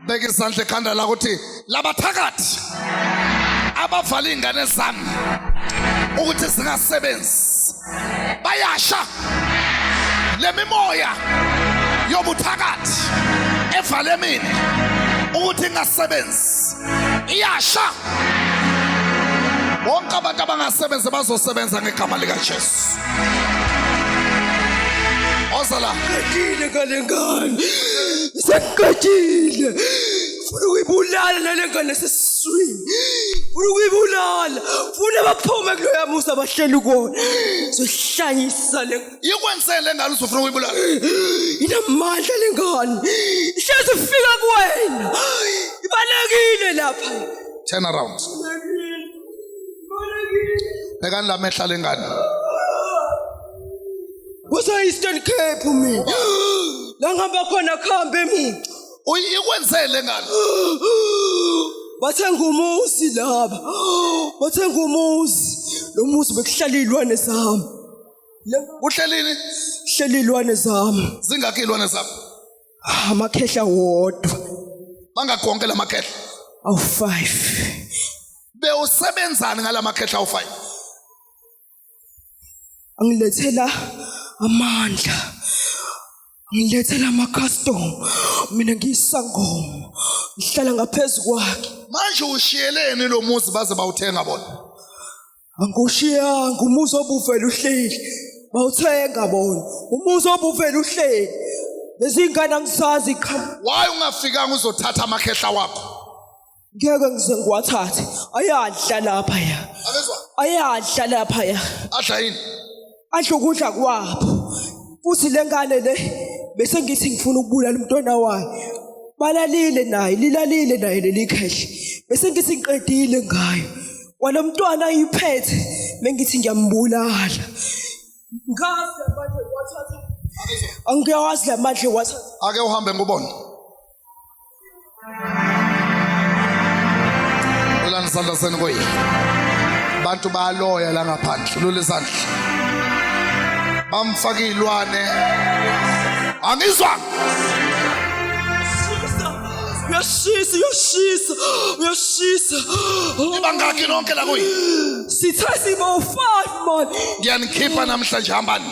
beka izandla ekhanda lakho uthi labathakathi abavala iy'ngane zami ukuthi zingasebenzi bayasha le mimoya yobuthakathi evale mina ukuthi ingasebenzi iyasha bonke abantu abangasebenzi bazosebenza ngegama likajesu oza la ngale ngane Sengiqedile. Funa ukuyibulala nale ngane sesiswini. Funa ukuyibulala. Funa baphume kuloya musa bahleli kuwona. Sohlanyisa le Ikwenzeni le ngane uzofuna ukuyibulala? inamandla le ngane. Ihlezi ifika kuwena. Ibalekile lapha. Turn around. Bhekani la mehla lengane. kuseeastern cape mina langihamba khona kuhambe mina uyikwenzele ngalo bathenga umuzi laba bathenga umuzi lo muzi bekuhlala iy'lwane zami kuhlelini hleli iy'lwane zami zingakho iy'lwane zami ah, amakhehla wodwa bangakonke la makhehla awu-five bewusebenzani ngala makhehla awu-five angilethela amandla ngilethela ama-custom mina ngiyisangoma ngihlala ngaphezu kwakhe manje ushiyeleni lo muzi baze bawuthenga bona angiwushiyanga umuzi obuvele uhleli bawuthenga bona umuzi obuvele uhleli lezingane angisazi qha why ungafikanga uzothatha amakhehla wakho ngeke ngize ngiwathathe ayadla lapha ya akezwa ayadla lapha ya adla yini adla ukudla kwabo futhi le ngane le bese ngithi ngifuna ukubulala umntwana wayo balalile naye lilalile naye leli khehle bese ngithi ngiqedile ngayo walo mntwana ayiphethe bengithi ngiyambulala ngaze manje wathatha angiyawazi la manje wathatha ake uhambe ngubona Ulani isandla senu koyi. Abantu bayaloya la ngaphandle. Lule isandla. Bamfaka izilwane. Angizwa. Uyashisa, uyashisa, uyashisa. Ibangaki nonke la kuyi. Sithe sibo 5 man. Ngiyanikhipha namhlanje hambani.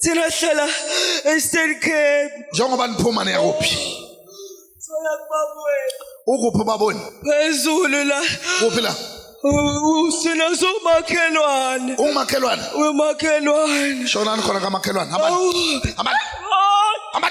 thina hlala eStern Cape njengoba niphuma niyakuphi soya kubabweni ukuphi ubaboni phezulu la kuphi la usina somakhelwane umakhelwane umakhelwane shonani khona kamakhelwane hamba Awu. hamba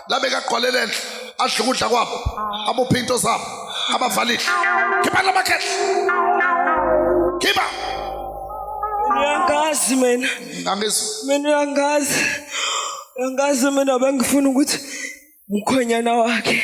labeka agqwalele enhle adle ukudla kwabo abophe into zabo abavalile khipha la makhehla khipha uyangazi mina angizwa mina uyangazi uyangazi mina bengifuna ukuthi mkhonyana wakhe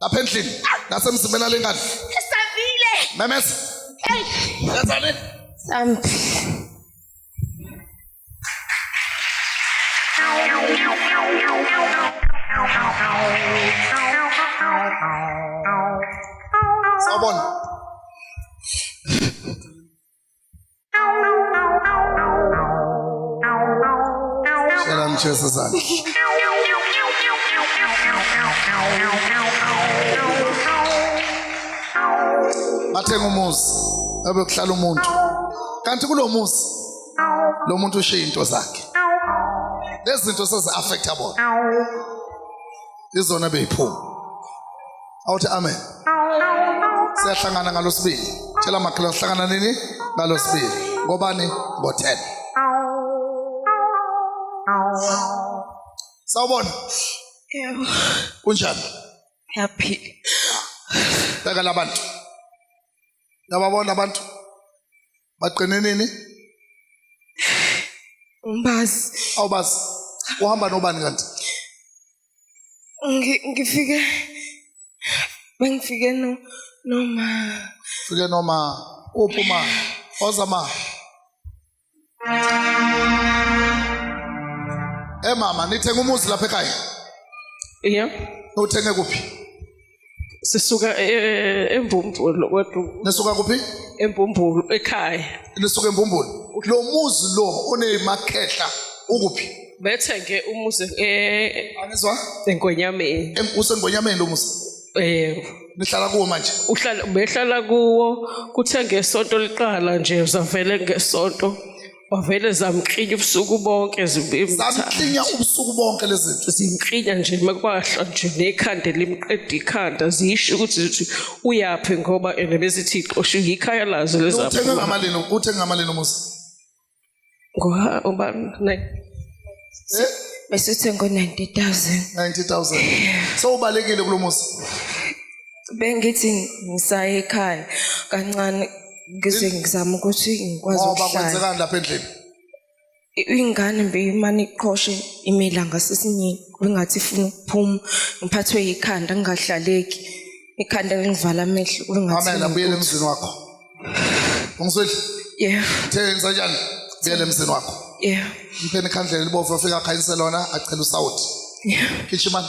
lapha endlini nasemzimbeni alengane esavile memeza hey yenzani sambi Sabon. Manchester sein. bathenga umuzi ebekuhlala umuntu kanti kulo muzi lo muntu ushiye into zakhe lezi zinto sezi-affecta bona izona beyiphuma awuthi amen siyahlangana ngalosibili tshela makhelwane sihlangana nini ngalosibili ngobani ngo-10 sawubona yebo kunjani yaphila takala abantu Yababona abantu baqine nini? Umbazi. Awubazi. Uhamba nobani kanti? Ngi- Ngifike bengifike no noma Fike noma uphuma ozama Eh mama nithenga umuzi lapha ekhaya? Yeah. Uthenge kuphi? Sisuka eh, eh, eh, eMbumbulu kodwa. Nisuka kuphi? eMbumbulu ekhaya. Nisuka eMbumbulu. Lo muzi lo onezimakhehla ukuphi? Bethenge umuzi eh angizwa eNgonyameni. Usengonyameni lo muzi. Eh nihlala kuwo manje uhlala behlala kuwo kuthe ngesonto liqala nje uzavele ngesonto wavele zamklinya ubusuku bonke zamklinya ubusuku bonke lezi zinto zimklinya nje makwahla nje nekhanda limqeda ikhanda zisho ukuthi zithi uyaphi ngoba ene bezithi xoshu yikhaya lazo lezaphi uthenga ngamalini uthenga ngamalini umuzi Ngoba uba Eh? besithe ngo 90000. 90000. So ubalekile kulomuzi. Bengithi ngisaye ekhaya kancane ngize ngizama ukuthi ngikwazi Ngoba ukuhlala. kwenzekani lapha endlini? I- Ingane beyimane iqhoshe imila ngasesinyeni bengathi ifuna ukuphuma ngiphathwe yikhanda ngingahlaleki. Ikhanda lingivala amehlo bengathi Mamela buyele ngiphuphe. emzini wakho. Ungizwile? Yeah. Theni sanjani? Buyele emzini wakho. Yeah. Mpheni khandlela libovu afika khayise lona acela usawuthi. Yeah. Khishimani.